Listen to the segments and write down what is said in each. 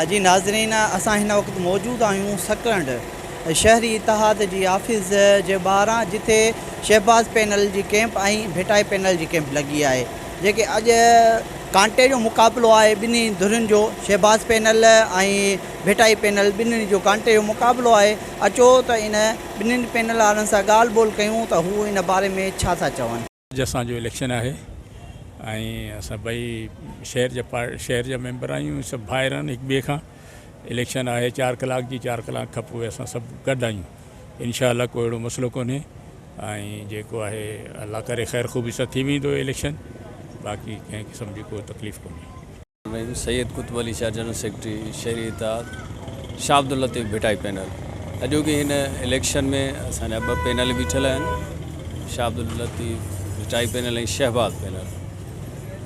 جي ناظرين اسان هن وقت موجود آهيون سڪرنڊ شهري اتحاد جي آفيس جي ٻاهران جتي شهباز پينل جي ڪيمپ ۽ ڀٽائي پينل جي ڪيمپ لڳي آهي جيڪي اڄ ڪانٽي جو مقابلو آهي ٻنهي ڌرين جو شهباز پينل ۽ ڀٽائي پينل ٻنهي جو ڪانٽي جو مقابلو آهي اچو ته ان ٻنهي پينل وارن سان ڳالهه ٻولهه ڪيون ته هو ان باري ۾ ڇا ٿا چون. اڄ اسان جو اليڪشن آهي ۽ اسان ٻئي شهر جا شهر جا ميمبر آهيون سڀ ڀائر آهن هڪ ٻئي کان اليڪشن آهي چار ڪلاڪ جي چار ڪلاڪ کان پوء اسان سڀ گڏ آهيون انشاء الله ڪو اهڙو مسئلو ڪونهي ۽ جيڪو آهي الله ڪري خير خوبي سان ٿي ويندو اليڪشن باقي ڪنهن قسم جي ڪو تڪليف ڪونهي ۾ Syed Qutub Ali Shah general secretary Shehri Ittehad, Shah Abdul Latif Bhittai panel, اڄوڪي هن اليڪشن ۾ اسان جا ٻه پينل بيٺل آهن شاهه عبداللطيف ڀٽائي پينل ۽ شهباز پينل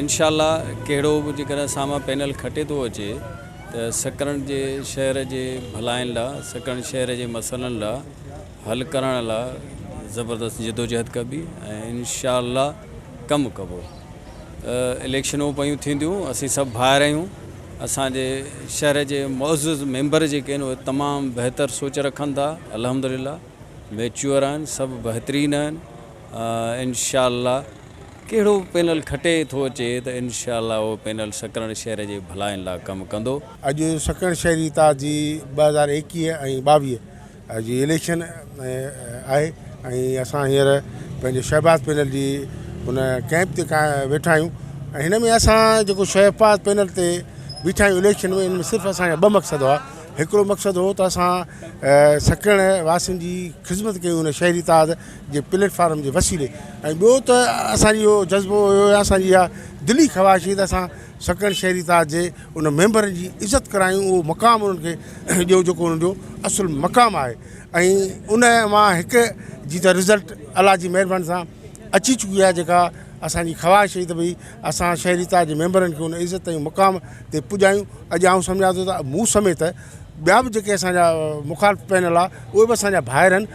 انشاء الله ڪهڙو به جيڪڏهن سامان پينل کٽي ٿو اچي ته سڪرنڊ جي شهر جي ڀلائين لا سڪرنڊ شهر جي مسئلن لا حل ڪرڻ لا زبردست جدوجهد ڪبي ۽ انشاء الله ڪم ڪبو اليڪشنون پيون ٿينديون اسين سڀ ڀائر آهيون اسان جي شهر جي معزز ميمبر جيڪي آهن اهي تمام بهتر سوچ رکن ٿا الحمدلله ميچور آهن سڀ بهترين آهن انشاء الله ڪهڙو پينل کٽي ٿو اچي ته انشاء الله اهو پينل سڪرن شهر جي ڀلائين لا ڪم ڪندو اڄ سکڻ شهري تازي ٻه هزار ايڪيهه ۽ ٻاويهه جي اليڪشن آهي ۽ اسان هينئر پنهنجي شهباز پينل جي ان ڪئمپ تي ويٺا آهيون ۽ هن ۾ اسان جيڪو شهباز پينل تي بيٺا آهيون اليڪشن ۾ ان ۾ صرف اسان جا ٻه مقصد هئا هڪڙو مقصد هو ته اسان سکڻ واسين جي خدمت ڪيون ان شهري اتحاد جي پليٽ فارم جي وسيلي ۽ ٻيو ته اسان جي اهو جذبو هيو اسان جي اها دلي خواهش هئي ته اسان سڪڻ شهري تاج جي انهن ميمبرن جي عزت ڪرايون اهو مقام انهن کي ڏيو جيڪو انهن جو اصل مقام آهي ۽ ان مان هڪ جي ته رزلٽ الله جي مهرباني سان اچي چڪي آهي جيڪا اسانجي خواهش هئي ته ڀئي اسان شهري تاج جي ميمبرن کي ان عزت ۽ مقام تي پڄايون اڄ آئون سمجهان ٿو ته مون سميت ٻيا به جيڪي اسانجا مخالف پينل آهي اهي به اسانجا ڀائر آهن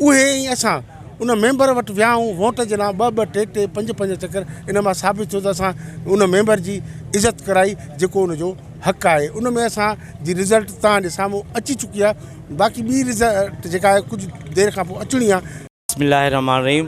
اهي ۽ اسان ان ميمبر وٽ ويا هئون ووٽ جي لاء ٻه ٻه ٽي ٽي پنج پنج چڪر ان مان ثابت ٿيو ته اسان ان ميمبر جي عزت ڪرائي جيڪو ان جو حق آهي ان ۾ اسان جي رزلٽ توهان جي سامهون اچي چڪي آهي باقي ٻي رزلٽ جيڪا آهي ڪجهه دير کان پوء اچڻي آهي. بسم الله الرحمٰن الرحيم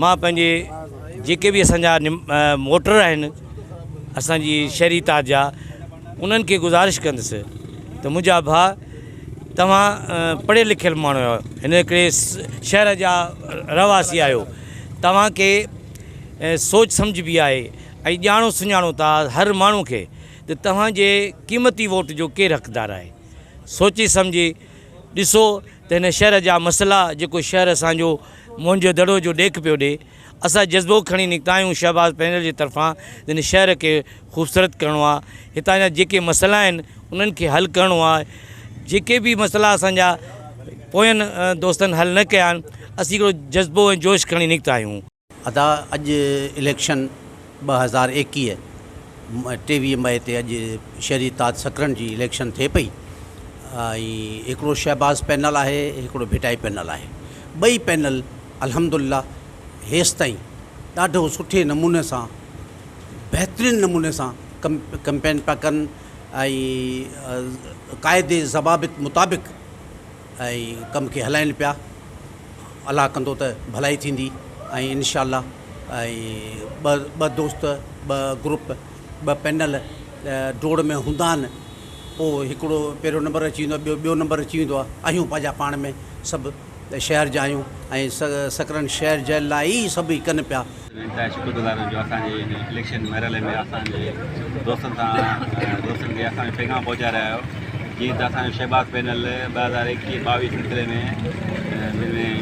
مان پنهنجي جيڪي به اسان جا موٽر آهن اسان جي شهري تاج جا انهن کي گذارش ڪندس ته منهنجا ڀاء توهان پڙهيل لکيل ماڻهو آهيو هن ڪري شهر جا رهواسي آهيو توهان کي سوچ سمجھ به آهي ۽ ڄاڻو سڃاڻو ٿا هر ماڻهو کي ته توهان جي قيمتي ووٽ جو ڪير حقدار آهي سوچي سمجھي ڏسو ته هن شهر جا مسئلا جيڪو شهر اسان جو موهن جو دڙو جو ڏيک پيو ڏي. اسان جذبو کڻي نڪتا آهيون شهباز پينل جي طرفان جنھن شهر کي خوبصورت ڪرڻو آ هتان جا جيڪي مسئلا آهن انهن کي حل ڪرڻو آ جيڪي به مسئلا اسان جا پوين دوستن حل نه ڪيا آهن اسين هڪڙو جذبو ۽ جوش کڻي نڪتا آهيون. ادا اڄ اليڪشن ٻه هزار ايڪيهه ۾ ٽيويهه مئي تي اڄ شهري تاج سڪرنڊ جي اليڪشن ٿئي پئي ۽ هڪڙو شهباز پينل آهي هڪڙو ڀٽائي پينل آهي ٻئي پينل الحمدالله هيستائين ڏاڍو سٺي نموني سان بهترين نموني سان ڪم ڪمپين پيا ڪن ۽ قاعدي ضوابط مطابق ۽ ڪم کي هلائين پيا الله ڪندو ته ڀلائي ٿيندي ۽ انشاء الله ۽ ٻه ٻه دوست ٻه گروپ ٻه پينل ڊوڙ ۾ هوندا آهن پوء هڪڙو پهريون نمبر اچي ويندو آهي ٻيو ٻيو نمبر اچي ويندو آهي اهيون پنهنجا پاڻ ۾ سڀ شهر جا آهيون ۽ سڪرنڊ شهر جي لاء ئي سڀ ئي ڪن پيا انتهائي شڪرگذار آهيان جو اسان جي هن اليڪشن مرحلي ۾ اسان جي دوستن سان دوستن کي اسان جو پيغام پهچائي رهيا آهيو جيئن ته اسان جو شهباز پينل ٻه هزار ايڪيهه ٻاويهه سلسلي ۾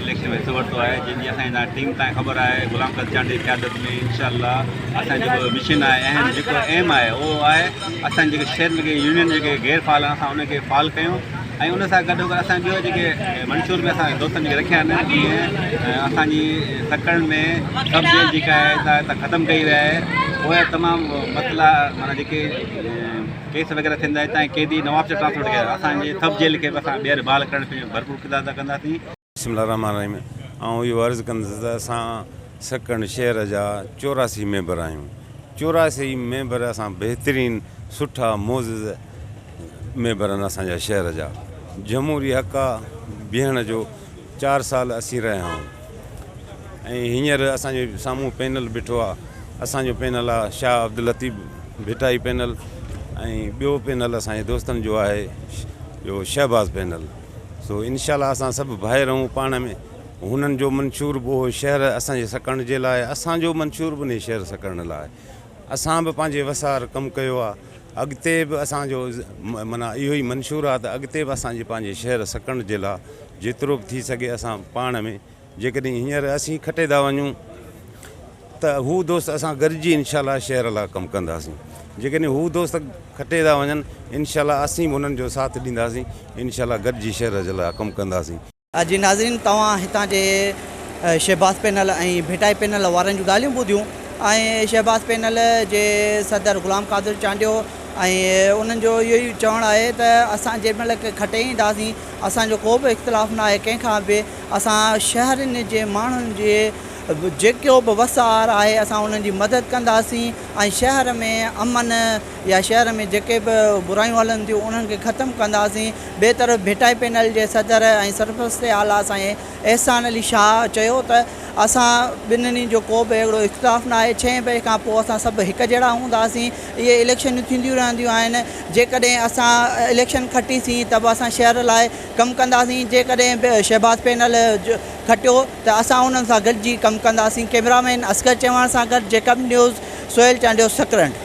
اليڪشن ۾ حصو ورتو آهي جن جي اسان جي ٽيم تائين خبر آهي غلام قادر چانڊيي جي قيادت ۾ انشاء الله اسان جو جيڪو مشن آهي اهم جيڪو ايم آهي اهو آهي اسان جيڪي شهر ۾ جيڪي يونين جيڪي غير فعال آهن اسان انهن کي فعال ڪيون ۽ ان سان گڏوگڏ اسان ٻيو جيڪي منشور به اسان دوستن جي رکيا آهن جيئن اسان جي سکڻ ۾ سب جيل جيڪا آهي سا هتان ختم ڪئي وئي آهي پوء تمام مسئلا مانا جيڪي ڪيس وغيره ٿيندا هتان جي قيدي نوابشاهه ٽرانسفر ڪيا اسان جي سب جيل کي به اسان ٻيهر بحال ڪرڻ ۾ ڀرپور ڪردار ادا ڪنداسين بسم الله الرحمٰن الرحيم آئون اهو عرض ڪندس ته اسان سڪڻ شهر جا چوراسي ميمبر آهيون چوراسي ئي ميمبر اسان بهترين سٺا معزز ميمبر آهن اسان جا شهر جا جمهوري حق آ بيهڻ جو چار سال اسين رهيا آهون ۽ هينئر اسان جي سامهون پينل بيٺو آ اسان جو پينل آ شاهه عبداللطيف ڀٽائي پينل ۽ ٻيو پينل اسان جي دوستن جو آهي جو شهباز پينل سو انشاء الله اسان سڀ ڀائي رهون پاڻ ۾، هنن جو منشور به اهو شهر اسان جي سڪڻ جي لاء اسان جو منشور به انهي شهر سڪڻ لاء اسان به پنهنجي وسار ڪم ڪيو آ اڳتي به اسان جو معنيٰ اهو ئي منشور آ ته اڳتي به اسان جي پنهنجي شهر سڪڻ جي لاء جيترو به ٿي سگهي اسان پاڻ ۾. جيڪڏهن هينئر اسين کٽي ٿا وڃون ته هو دوست اسان گڏجي انشاء الله شهر لاء ڪم ڪنداسين جيڪڏهن هو دوست کٽي ٿا وڃن انشاء الله اسين به انهن جو ساٿ ڏينداسين انشاء الله گڏجي شهر جي لاء ڪم ڪنداسين. جي ناظرين توهان هتان جي شهباز پينل ۽ ڀٽائي پينل وارن جون ڳالهيون ٻڌيون ۽ شهباز پينل جي صدر غلام قادر چانڊيو ۽ انهن جو اهو ئي چوڻ آهي ته اسان جيڏمهل کٽي اينداسين اسان جو ڪو به اختلاف ناهي ڪنهن کان به اسان شهرين جي ماڻهن جي جيڪو به وسار آهي اسان انهن جي مدد ڪنداسين ۽ شهر ۾ امن يا شهر ۾ جيڪي به برايون هلن ٿيون انهن کي ختم ڪنداسين ٻئي طرف ڀٽائي پينل جي صدر ۽ سرپرست اعليٰ سائين احسان علي شاهه چيو ته اسان ٻنهي جو ڪو به اهڙو اختلاف نه آهي ڇهين بئي کان پوء اسان سڀ هڪ جهڙا هونداسين اهي اليڪشنون ٿينديون رهنديون آهن جيڪڏهن اسان اليڪشن کٽيسين ته به اسان شهر لاء ڪم ڪنداسين جيڪڏهن شهباز پينل کٽيو ته اسان انهن سان گڏجي ڪم ڪنداسين ڪئميرامين اصغر چيواڻ سان گڏ جيڪب نيوز سهيل چانڊيو سڪرنڊ.